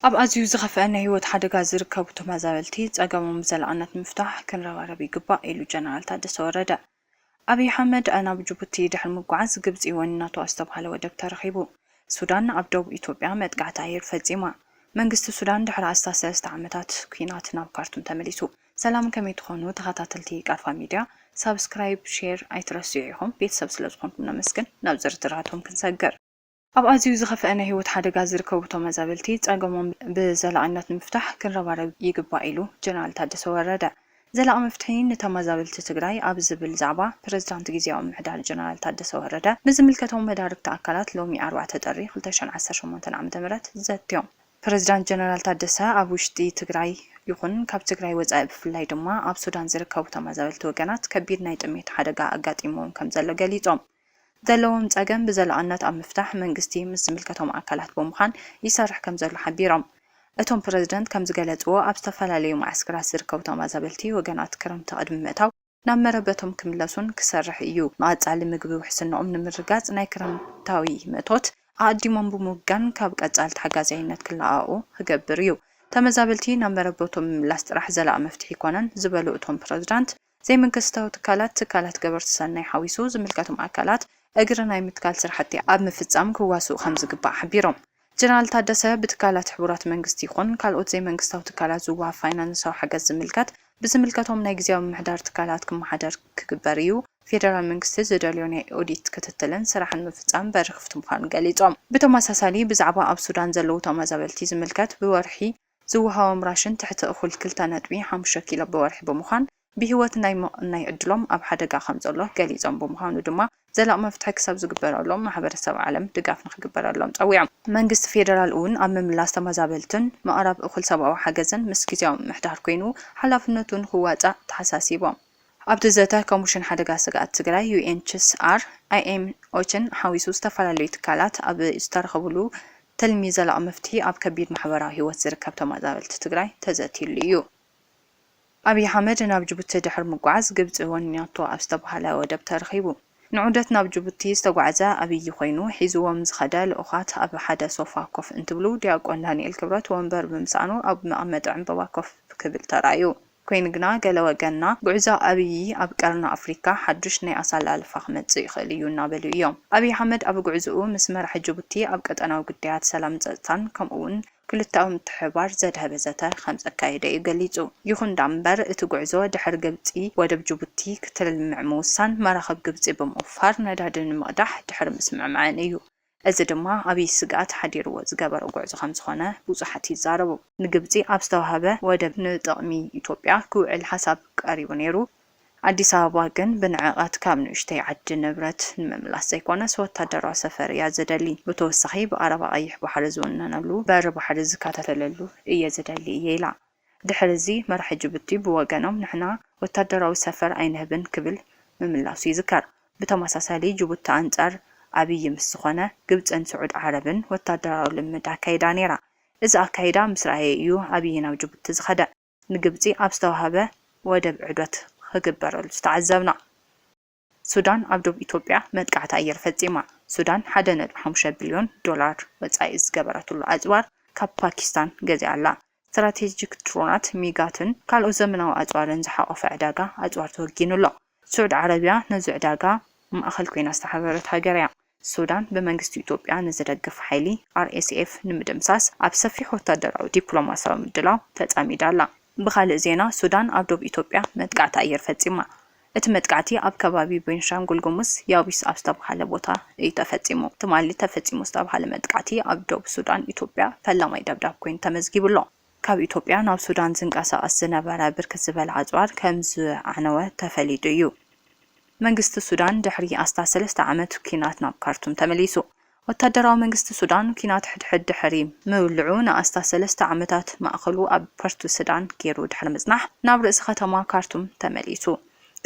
ኣብ ኣዝዩ ዝኸፍኣ ናይ ህይወት ሓደጋ ዝርከቡ ተመዛበልቲ ፀገሞም ብዘላቕነት ንምፍታሕ ክንረባረብ ይግባእ ኢሉ ጀነራል ታደሰ ወረደ። ኣብይ ኣሕመድ ናብ ጅቡቲ ድሕሪ ምጉዓዝ ግብፂ ወኒናቶ ኣዝተብሃለ ወደብ ተረኺቡ። ሱዳን ኣብ ደቡብ ኢትዮጵያ መጥቃዕቲ ኣየር ፈፂማ። መንግስቲ ሱዳን ድሕሪ ኣስታት ሰለስተ ዓመታት ኲናት ናብ ካርቱም ተመሊሱ። ሰላም ከመይ ትኾኑ ተኸታተልቲ ቃርፋ ሚድያ ሳብስክራይብ ሼር ኣይትረስዑ ኢኹም ቤተሰብ ስለዝኾንኩም ነመስግን ናብ ዝርዝራቶም ክንሰግር። ኣብ ኣዝዩ ዝኸፈኣ ናይ ህይወት ሓደጋ ዝርከቡ ተመዛበልቲ ፀገሞም ብዘላቒነት ንምፍታሕ ክንረባረብ ይግባእ ኢሉ ጀነራል ታደሰ ወረደ። ዘላቒ መፍትሒ ንተመዛበልቲ ትግራይ ኣብ ዝብል ዛዕባ ፕረዚዳንት ግዝያዊ ምምሕዳር ጀነራል ታደሰ ወረደ ምስ ዝምልከቶም መዳርግቲ ኣካላት ሎሚ ኣርባዕተ ጥሪ ክልተ ሽሕን ዓሰርተ ሸሞንተን ዓመተ ምህረት ዘትዮም። ፕረዚዳንት ጀነራል ታደሰ ኣብ ውሽጢ ትግራይ ይኹን ካብ ትግራይ ወፃኢ ብፍላይ ድማ ኣብ ሱዳን ዝርከቡ ተመዛበልቲ ወገናት ከቢድ ናይ ጥሜት ሓደጋ ኣጋጢምዎም ከምዘሎ ገሊፆም። ዘለዎም ፀገም ብዘላቕነት ኣብ ምፍታሕ መንግስቲ ምስ ዝምልከቶም ኣካላት ብምዃን ይሰርሕ ከምዘሎ ሓቢሮም። እቶም ፕረዚደንት ከምዝገለፅዎ፣ ኣብ ዝተፈላለዩ መዓስከራት ዝርከቡ ተመዛበልቲ ወገናት ክረምቲ ቅድሚ ምእታው ናብ መረበቶም ክምለሱን ክሰርሕ ኢዩ። ንቐፃሊ ምግቢ ውሕስንኦም ንምርግጋፅ ናይ ክረምታዊ ምእቶት ኣቐዲሞም ብምውጋን ካብ ቀፃሊ ተሓጋዛይነት ክለኣኣቑ ክገብር ኢዩ። ተመዛበልቲ ናብ መረበቶም ምምላስ ጥራሕ ዘላቒ መፍትሒ ኣይኮነን ዝበሉ እቶም ፕረዚዳንት፣ ዘይመንግስታዊ ትካላት፣ ትካላት ገበርቲ ሰናይ ሓዊሱ ዝምልከቶም ኣካላት እግሪ ናይ ምትካል ስራሕቲ ኣብ ምፍፃም ክዋስኡ ከምዝግባእ ሓቢሮም። ጀነራል ታደሰ ብትካላት ሕቡራት መንግስቲ ይኹን ካልኦት ዘይመንግስታዊ ትካላት ዝወሃብ ፋይናንሳዊ ሓገዝ ዝምልከት ብዝምልከቶም ናይ ግዝያዊ ምምሕዳር ትካላት ክመሓደር ክግበር ኢዩ፣ ፌደራል መንግስቲ ዝደልዮ ናይ ኦዲት ክትትልን ስራሕን ምፍፃም በሪ ክፍቲ ምዃኑ ገሊፆም። ብተመሳሳሊ ብዛዕባ ኣብ ሱዳን ዘለዉ ተመዛበልቲ ዝምልከት ብወርሒ ዝወሃቦም ራሽን ትሕቲ እኹል ክልተ ነጥቢ ሓሙሽተ ኪሎ ብወርሒ ብምዃን ብሂወት ናይ ምቕናይ ዕድሎም ኣብ ሓደጋ ከምዘሎ ገሊፆም ብምዃኑ ድማ ዘላቒ መፍትሒ ክሳብ ዝግበረሎም ማሕበረሰብ ዓለም ድጋፍ ንክግበረሎም ፀዊዖም። መንግስቲ ፌደራል እውን ኣብ ምምላስ ተመዛበልትን ምቕራብ እኹል ሰብኣዊ ሓገዝን ምስ ግዚያዊ ምምሕዳር ኮይኑ ሓላፍነቱ ንክዋፃእ ተሓሳሲቦም። ኣብቲ ዘተ ኮሚሽን ሓደጋ ስግኣት ትግራይ፣ ዩኤንችስኣር፣ ኣይኤም፣ ኦቸን ሓዊሱ ዝተፈላለዩ ትካላት ኣብ ዝተረኸብሉ ትልሚ ዘላቒ መፍትሒ ኣብ ከቢድ ማሕበራዊ ህይወት ዝርከብ ተመዛበልቲ ትግራይ ተዘትይሉ ኢዩ። ኣብይ ኣሕመድ ናብ ጅቡቲ ድሕሪ ምጉዓዝ ግብፂ ወኒናቶ ኣብ ዝተብሃለ ወደብ ተረኺቡ። ንዑደት ናብ ጅቡቲ ዝተጓዕዘ ኣብይ ኮይኑ ሒዝዎም ዝኸደ ልኡኻት ኣብ ሓደ ሶፋ ኮፍ እንትብሉ ዲያቆን ዳንኤል ክብረት ወንበር ብምስኣኑ ኣብ መቐመጢ ዕምበባ ኮፍ ክብል ተራእዩ። ኮይኑ ግና ገለ ወገንና ጉዕዞ ኣብዪ ኣብ ቀርኒ ኣፍሪካ ሓዱሽ ናይ ኣሰላልፋ ክመፅእ ይኽእል እዩ እናበሉ እዮም። ኣብዪ ኣሕመድ ኣብ ጉዕዞኡ ምስ መራሒ ጅቡቲ ኣብ ቀጠናዊ ጉዳያት ሰላምን ፀፅታን ከምኡ እውን ክልተኣዊ ምትሕብባር ዘድሀበ ዘተ ከምዘካየደ እዩ ገሊፁ። ይኹን ዳኣምበር እቲ ጉዕዞ ድሕሪ ግብፂ ወደብ ጅቡቲ ክትልምዕ ምውሳን መራኽብ ግብፂ ብምውፋር ነዳዲ ንምቕዳሕ ድሕሪ ምስምዕማዐን እዩ እዚ ድማ ኣብይ ስግኣት ሓዲርዎ ዝገበሮ ጉዕዞ ከምዝኾነ ብዙሓት ይዛረቡ። ንግብፂ ኣብ ዝተውሃበ ወደብ ንጥቕሚ ኢትዮጵያ ክውዕል ሓሳብ ቀሪቡ ነይሩ። ኣዲስ ኣበባ ግን ብንዕቐት ካብ ንኡሽተይ ዓዲ ንብረት ንምምላስ ዘይኮነስ ወታደራዊ ሰፈር እያ ዝደሊ። ብተወሳኺ ብቐረባ ቀይሕ ባሕሪ ዝውነነሉ በሪ ባሕሪ ዝከታተለሉ እየ ዝደሊ እየ ኢላ። ድሕሪ እዚ መራሒ ጅቡቲ ብወገኖም ንሕና ወታደራዊ ሰፈር ኣይንህብን ክብል ምምላሱ ይዝከር። ብተመሳሳሊ ጅቡቲ ኣንጻር ኣብዪ ምስ ዝኾነ ግብጽን ስዑድ ዓረብን ወታደራዊ ልምምድ ኣካይዳ ነይራ። እዚ ኣካይዳ ምስ ረኣየ እዩ ኣብዪ ናብ ጅቡቲ ዝኸደ። ንግብጺ ኣብ ዝተዋህበ ወደብ ዑደት ክግበረሉ ዝተዓዘብና። ሱዳን ኣብ ዶብ ኢትዮጵያ መጥቃዕቲ ኣየር ፈጺማ። ሱዳን ሓደ ነጥቢ ሓሙሽተ ቢልዮን ዶላር ወጻኢ ዝገበረትሉ ኣጽዋር ካብ ፓኪስታን ገዚኣ ኣላ። ስትራቴጂክ ድሮናት፣ ሚጋትን ካልኦት ዘመናዊ ኣጽዋርን ዝሓቖፈ ዕዳጋ ኣጽዋር ተወጊኑ ኣሎ። ስዑድ ዓረብያ ነዚ ዕዳጋ ማእከል ኮይና ዝተሓበረት ሃገር'ያ። ሱዳን ብመንግስቲ ኢትዮጵያ ንዝደግፍ ሓይሊ RSF ንምድምሳስ ኣብ ሰፊሕ ወታደራዊ ዲፕሎማስያዊ ምድላው ተጸሚዳ ኣላ። ብኻልእ ዜና ሱዳን ኣብ ዶብ ኢትዮጵያ መጥቃዕቲ ኣየር ፈጺማ። እቲ መጥቃዕቲ ኣብ ከባቢ ቤንሻንጉል ጉሙዝ ያቢስ ኣብ ዝተብሃለ ቦታ እዩ ተፈጺሙ። ትማሊ ተፈጺሙ ዝተብሃለ መጥቃዕቲ ኣብ ዶብ ሱዳን ኢትዮጵያ ፈላማይ ደብዳብ ኮይኑ ተመዝጊቡ ኣሎ። ካብ ኢትዮጵያ ናብ ሱዳን ዝንቀሳቐስ ዝነበረ ብርክት ዝበለ ኣፅዋር ከምዝዓነወ ተፈሊጡ እዩ። መንግስቲ ሱዳን ድሕሪ ኣስታት ሰለስተ ዓመት ኲናት ናብ ካርቱም ተመሊሱ። ወታደራዊ መንግስቲ ሱዳን ኲናት ሕድሕድ ድሕሪ ምውልዑ ንኣስታት ሰለስተ ዓመታት ማእኸሉ ኣብ ፐርቱስዳን ገይሩ ድሕሪ ምፅናሕ ናብ ርእሲ ከተማ ካርቱም ተመሊሱ።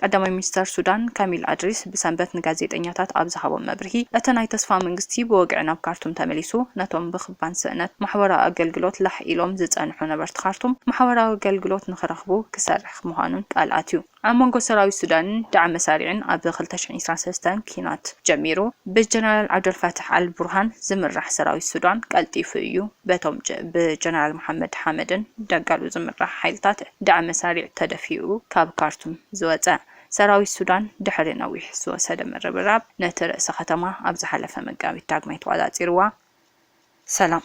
ቀዳማይ ሚኒስተር ሱዳን ካሚል ኣድሪስ ብሰንበት ንጋዜጠኛታት ኣብ ዝሃቦ መብርሂ፣ እቲ ናይ ተስፋ መንግስቲ ብወግዒ ናብ ካርቱም ተመሊሱ፣ ነቶም ብክባን ስእነት ማሕበራዊ ኣገልግሎት ላሕ ኢሎም ዝጸንሑ ነበርቲ ካርቱም ማሕበራዊ ኣገልግሎት ንኽረኽቡ ክሰርሕ ምዃኑን ቃል ኣትዩ። ኣብ መንጎ ሰራዊት ሱዳንን ዳዕመ ሳሪዕን ኣብ ክልተ ሽሕን ዕስራን ሰለስተን ኲናት ጀሚሩ፣ ብጀነራል ዓብደልፋታሕ ኣል ቡርሃን ዝምራሕ ሰራዊት ሱዳን ቀልጢፉ እዩ በቶም ብጀነራል መሓመድ ሓመድን ዳጋሎ ዝምራሕ ሓይልታት ዳዕም መሳሪዕ ተደፊኡ ካብ ካርቱም ዝወጸ ሰራዊት ሱዳን ድሕሪ ነዊሕ ዝወሰደ ምርብራብ ነቲ ርእሰ ከተማ ኣብ ዝሓለፈ መጋቢት ዳግማይ ተቋጻጺርዋ ሰላም